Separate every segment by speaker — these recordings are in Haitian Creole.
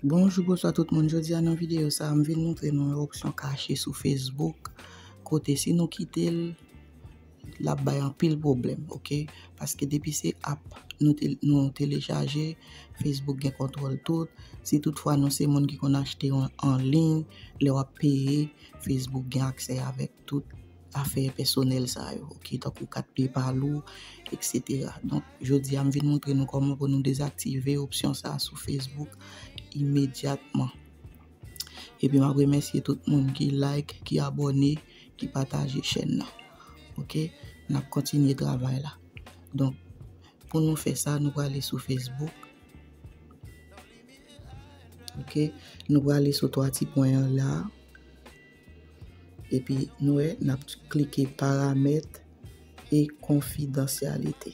Speaker 1: Bonjou bonswa tout moun, jodi a nan videyo sa m vin montre nou yon opsyon kache sou Facebook kote si nou kite l l ap bay anpil pwoblèm ok paske depi se app nou telechaje Facebook gen kontwòl tout si tout fwa nou se moun ki konn achte anliy lè w ap peye Facebook gen aksè avèk Tout afè pèsonèl sa yo, ok, tankou kat PayPal ou, etc. Donk, jodi a m vin montre nou kòman pou nou dezaktive opsyon sa sou Facebook imedyatman. Epi m ap remèsye tout moun ki like, ki abòne, ki pataje chèn nan. Ok, n ap kontinye travay la. Donk, pou nou fè sa, nou prale sou Facebook. Ok, nou prale sou 3 ti pwen an la. Epi nou wè nap klike paramèt e konfidansyalite.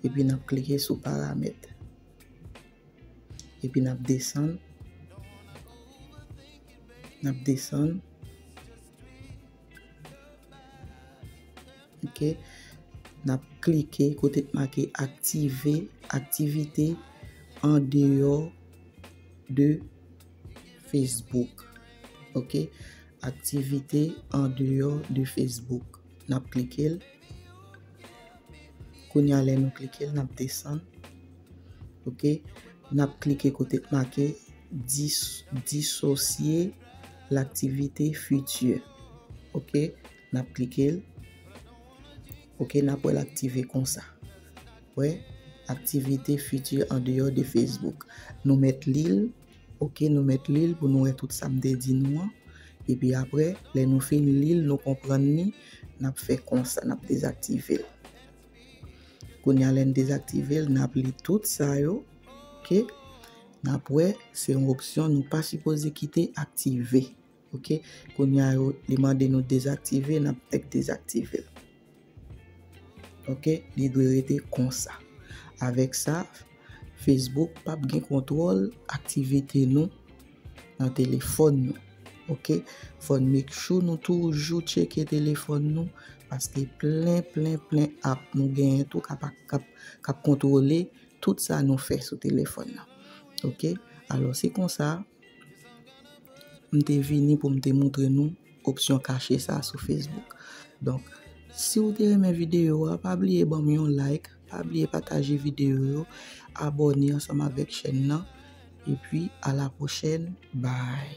Speaker 1: Epi nap klike sou paramèt. Epi nap desann. Nap desann. Ok. Nap klike kote k make aktive aktivite andeyo de. Facebook ok aktivite andeyò de Facebook nap klike l kounye a lè nou klike l nap desann ok nap klike kote k make disosye l aktivite futur ok nap klike l ok nap wè l aktive konsa. Wè Aktivite Fiti andeyò de Facebook. Nou mèt li l, ok, nou mèt li l pou nou wè tout sa m te di nou an. Epi apre, lè nou fin li l, nou konprann li, n ap fè konsa, n ap dezaktive l. Kounye a lè n dezaktive l, n ap li tout sa yo, ok. N ap wè se yon opsyon nou pa sipoze kite aktive. Ok kounya yo li mande nou dezaktive nap fèk dezaktivel ok li dwe rete konsa avèk sa Facebook pap gen kontwòl aktivite nou nan telefòn nou ok fòn nou make sure nou toujou tcheke telefòn nou paske plen plen plen ap nou genyen tou kap kap kontwòle tout sa nou fè sou telefòn nan ok alò se konsa. M te vini pou m te moutre nou opsyon kache sa sou Facebook. Donk, si ou te renmen videyo a, pa bliye ban m yon like, pa bliye pataje videyo yo, abone ansanm avèk chèn nan, epi a la pwochèn, bye!